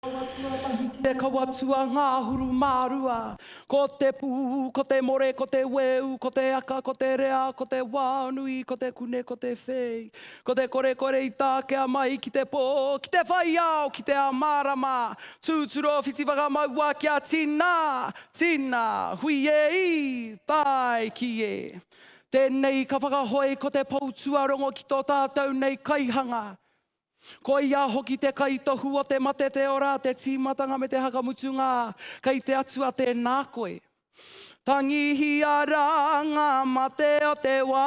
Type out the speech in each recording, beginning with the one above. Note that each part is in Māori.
Kawa tuatahi ki te kawa tua ngahuru ma rua. Ko te pu, ko te more, ko te weu, ko te aka, ko te rea, ko te wa nui, ko te kune, ko te fei. Ko te kore kore i takea mai ki te po, ki te whai ao, ki te ao marama. Tuturo whiti whakamaua kia tina, tina, hui e i, tae ki e. Tēnei ka whakahoe ko te pou tuarongo ki tō tātou nei kaihanga. Ko ia hoki te kaitohu o te mate te ora, te tīmatanga me te hakamutunga, kei te Atua tēnā koe. Tangihia rā ngā mate o te wā.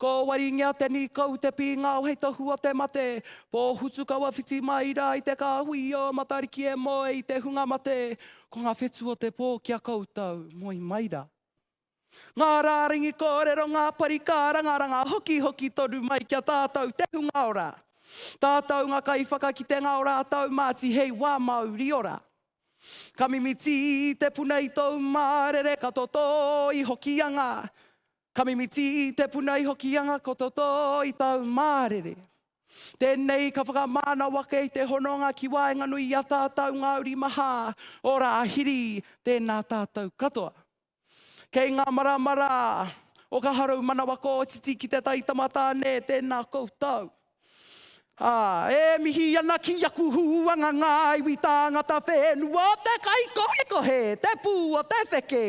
Ko Waringia te nīkau, te pīngao hei tohu o te mate. Pōhutu kaua whiti mai rā i te kāhui i ō Matariki e moe i te hunga mate. Ko ngā whetū o te pō ki a koutou, moe mai rā. Ngā rārangi kōrero, ngā pari kārangaranga, hokihoki tonu mai ki a tātou te hunga ora. Tātou ngā kaiwhakakitenga o rātou Māti hei wā māuri ora. Ka mimiti te puna i tōu mārere, ka totō i Hokianga. Ka mimiti i te puna i Hokianga ko Totō i tau mārere. Tēnei ka whakamānau ake i te hononga ki waenganui i a tātau Ngāuri Mahā, ora a Hiri, tēnā tātau katoa. Kei ngā marama rā o ka haroumanawa kōtiti ki te taitama tāne, tēnā koutou. Ā, e mihi ana ki aku huanga ngā iwi tāngata whenua o te kaikohekohe, te pū o te wheke,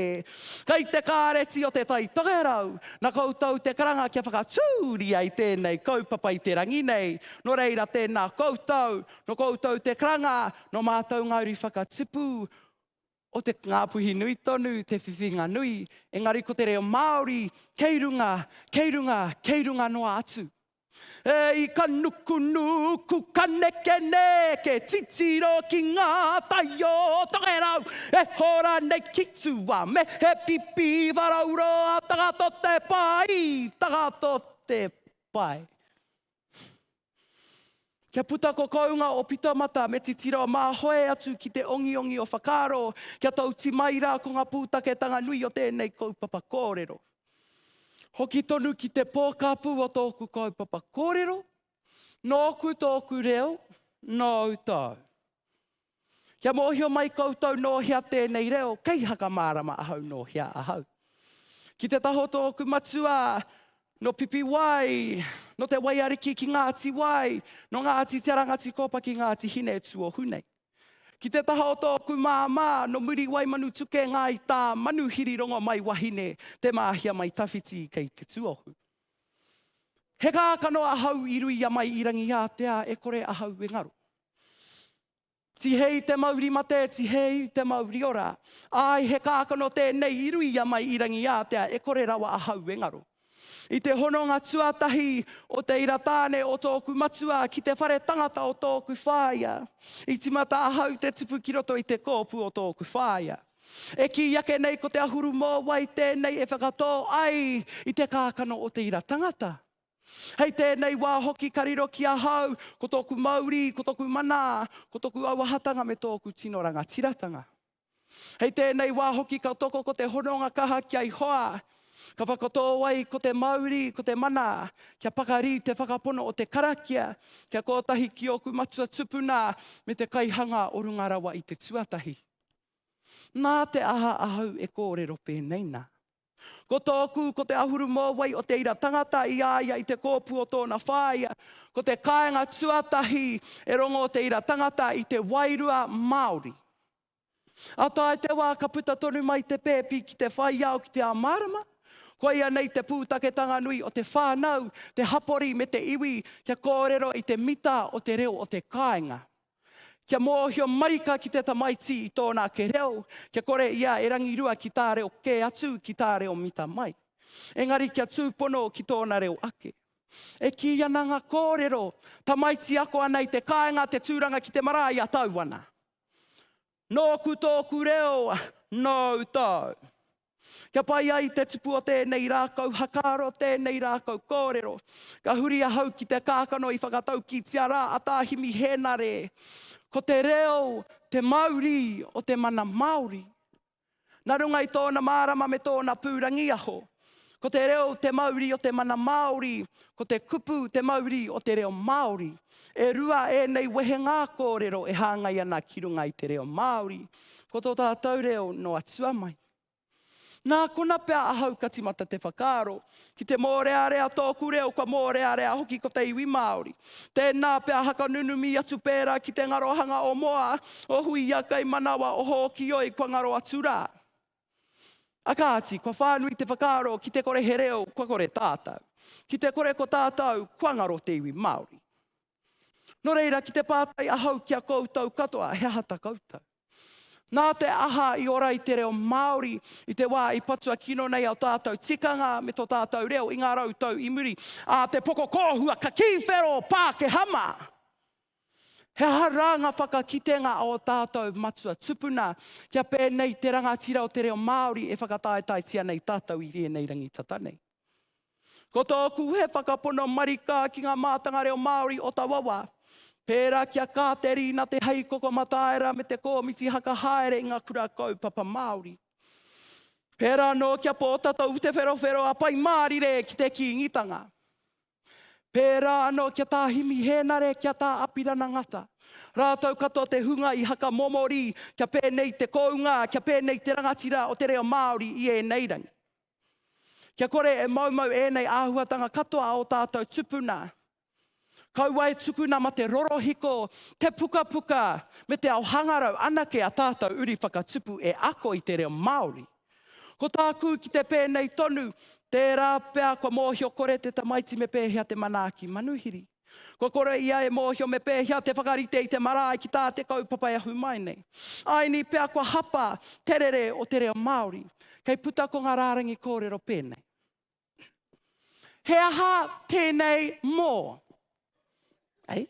kei te kāreti o Te Tai Tokerau, nā koutou te karanga kia whakatūria i tēnei kaupapa i te rangi nei, nō reira tēnā koutou, nō koutou te karanga, nō mātou ngā uri whakatipu, o te Ngāpuhi nui tonu te whiwhinga nui, engari ko te reo Māori kei runga, kei runga, kei runga noa atu. E i ka nukunuku, ka nekeneke, titiro ki ngā tai o Tokerau, e hora nei ki tua me he pipi wharauroa, tagato te pai, tagato te pai. Kia puta ko kounga o Pitamata me titiro mā hoe atu ki te ongiongi o whakaaro kia tauti mai rā ko ngā pūtaketanga nui o tēnei kaupapa kōrero. Hoki tonu ki te pōkāpū o tōku kaupapa kōrero, nōku tōku reo, nōu tāu. Kia mōhio mai koutou nō hea tēnei reo, kei Hakamārama ahau nō hea ahau. Ki te taho tōku matua, nō Pipiwai, nō Te Waiariki ki Ngāti Wai, nō Ngāti Te Rangatikōpa ki Ngāti Hinetūohu nei. Ki te taha o tōku māmā, nō Muriwai-Manutuke, Ngāi Tā, Manuhiri Rongomaiwahine, Te Māhia mai Tawhiti kei Te Tuohu. He kākano ahau i Ruiamai i Rangiātea e kore ahau e ngaro. Tihei te mauri mate, tihei te mauri ora. Ai he kākano tēnei i ruia mai i Rangiātea e kore rawa ahau e ngaro. I te hononga tuatahi o te ira tāne o tōku matua ki te whare tangata o tōku whāia, i timata ahau te tupu ki roto i te kōpu o tōku whāia. E kī ake nei ko te ahuru mōwai tēnei e whakatō ai i te kākano o te ira tangata. Hei tēnei wā hoki ka riro ki ahau ko tōku mauri, ko tōku mana, ko tōku auahatanga me tōku tino rangatiratanga. Hei tēnei wā hoki ka toko ko te hononga kaha kia i hoa, ka whakatō ai ko te mauri, ko te mana, kia pakari te whakapono o te karakia, kia kōtahi ki ōku matua tupuna me te kaihanga o runga rawa i te tuatahi. Nā te aha ahau e kōrero pēnei nā? Ko tōku, ko te ahuru mōwai o te ira tangata i a ia i te kōpu o tōna whāia, ko te kāenga tuatahi e rongo o te ira tangata i te wairua Māori. A tae te wā ka puta tonu mai te pēpi ki te whai ao ki te ao mārama, koia nei te pūtaketanga nui o te whānau, te hapori me te iwi kia kōrero i te mita o te reo o te kāenga. Kia mōhio marika ki te tamaiti i tōna ake reo, kia kore ia e rangirua ki tā reo kē atu ki tā reo mita mai. Engari kia tūpono ki tōna reo ake. E kī ana ngā kōrero, tamaiti ako ana i te kāinga te tūranga ki te marae i a tau ana. Nōku tōku reo, nōu tōu. Kia pai ai te tupu o tēnei rākau hakaaro, tēnei rākau kōrero. Ka huri ahau ki te kākano i whakataukitia rā a Tā Himi Hēnare, ko te reo te mauri o te mana Māori. Nā runga i tōna mārama me tōna pūrangiaho, ko te reo te mauri o te mana Māori, ko te kupu te mauri o te reo Māori. E rua ēnei wehenga kōrero e hāngai ana ki runga i te reo Māori. Ko tō tātou reo noa tua mai. Nā kona pea ahau ka timata te whakaaro, ki te mōrearea tōku reo kua mōrearea hoki ko te iwi Māori. Tēnā pea hakanunumi atu pērā ki te ngarohanga o Moa, o Huia kei manawa, o Hōkioi kua ngaro atu rā. A kāti, kua whānui te whakaaro ki te kore he reo kua kore tātou. Ki te kore ko tātou kua ngaro te iwi Māori. Nō reira, ki te pātai ahau ki a koutou katoa, he aha ta koutou? Nā te aha i ora i te reo Māori i te wā i patua kino nei o tātou tikanga me tō tātou reo i ngā rau tau i muri a te poko kōhua ka kī whero Pākehā mā? He aha rā ngā whakakitenga o tātou matua tupuna kia pēnei te rangatira o te reo Māori e whakataetaetia nei tātou i ēnei rangi tata nei? Ko tōku he whakapono marika ki ngā mātanga reo Māori o taua wā, pērā ki a Kāterina Te Hei Kokomataera me te Kōmiti Haka Haere i ngā Kura Kaupapa Māori. Pērā anō ki a Pōtatau Te Wherowhero a Pai Mārire ki te Kīngitanga. Pērā anō ki a Tā Himi Hēnare, ki a Tā Apirana Ngata. Rātou katoa te hunga i hakamomori kia pēnei te kounga, kia pēnei te rangatira o te reo Māori i ēnei rangi. Kia kore e moumou ēnei āhuatanga katoa o tātou tupuna. Kaua e tukuna ma te rorohiko, te pukapuka, me te ao hangarau anake a tātou uri whakatupu e ako i te reo Māori. Ko tāku ki te pēnei tonu, tērā pea kua mōhio kore te tamaiti me pēhea te manaaki manuhiri. Kua kore ia e mōhio me pēhea te whakarite i te marae ki tā te kaupapa e ahu mai nei. Aini pea kua hapa te rere o te reo Māori. Kei puta ko ngā rārangi kōrero pēnei. He aha tēnei mō? Ei?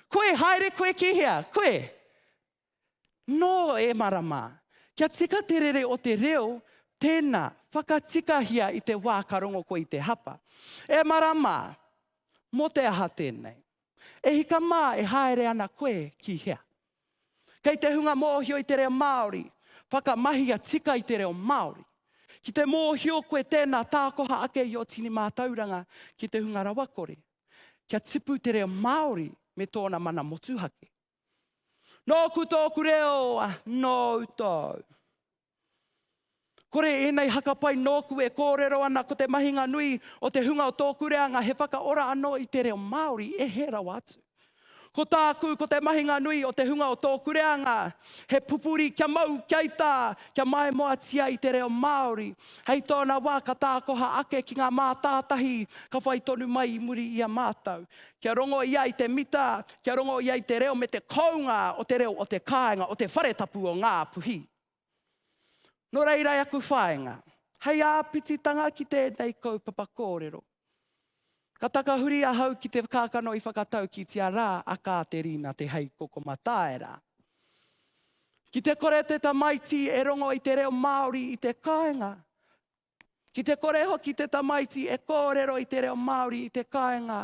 Koe, haere koe ki hea? Koe? Nō e marama, kia tika te rere o te reo, tēnā, whakatikahia i te wā ka rongo koe i te hapa. E marama! Mō te aha tēnei? E hika mā e haere ana koe ki hea? Kei te hunga mōhio i te reo Māori, whakamahia tika i te reo Māori. Ki te mōhio koe tēnā tākoha ake i ō tini mātauranga ki te hunga rawakore, kia tipu te reo Māori me tōna mana motuhake. Nōku tōku reo, nōu tōu. Kore ēnei haka pai nōku e kōrero ana ko te mahinga nui o te hunga o tōku reanga he whakaora anō i te reo Māori e hē rawa atu. Ko tāku ko te mahinga nui o te hunga o tōku reanga he pupuri kia mau, kia ita, kia maimoatia i te reo Māori. Hei tōna wā ka tākoha ake ki ngā mātātahi ka whai tonu mai i muri i a mātou. kia rongo ia i te mita, kia rongo ia i te reo me te kounga o te reo o te kāinga, o te whare tapu o Ngāpuhi. Nō reira e aku whāinga, hei āpititanga ki tēnei kaupapa kōrero, ka takahuri ahau ki te kākano i whakataukitia rā a Kāterina Te Heikoko Mataira. Ki te kore te tamaiti e rongo i te reo Māori i te kāinga, Ki te kore hoki te tamaiti e kōrero i te reo Māori i te kāinga,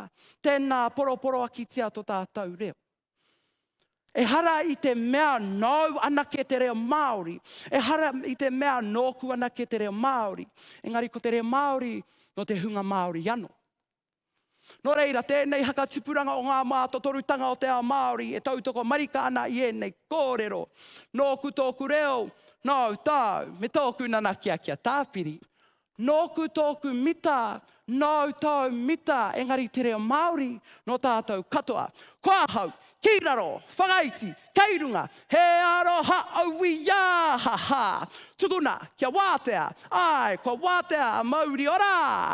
tēnā poroporoakitia to tātou reo. Ehara i te mea nāu anake te reo Māori, ehara i te mea nōku anake te reo Māori, engari ko te reo Māori nō te hunga Māori ano. Nō reira, tēnei hakatupuranga o ngā mātotorutanga o te ao Māori e tautoko marika ana i ēnei kōrero, Nōku tōku reo, nāu tāu, me tōku nanakia kia tāpiri. Nōku tōku mita, nāu tāu mita, engari te reo Māori nō tātou katoa. Ko ahau, Ki raro, whakaiti, kei runga, he aroha aui ia, ha ha! Tukuna, kia wātea, āe, kua wātea a mauri ora!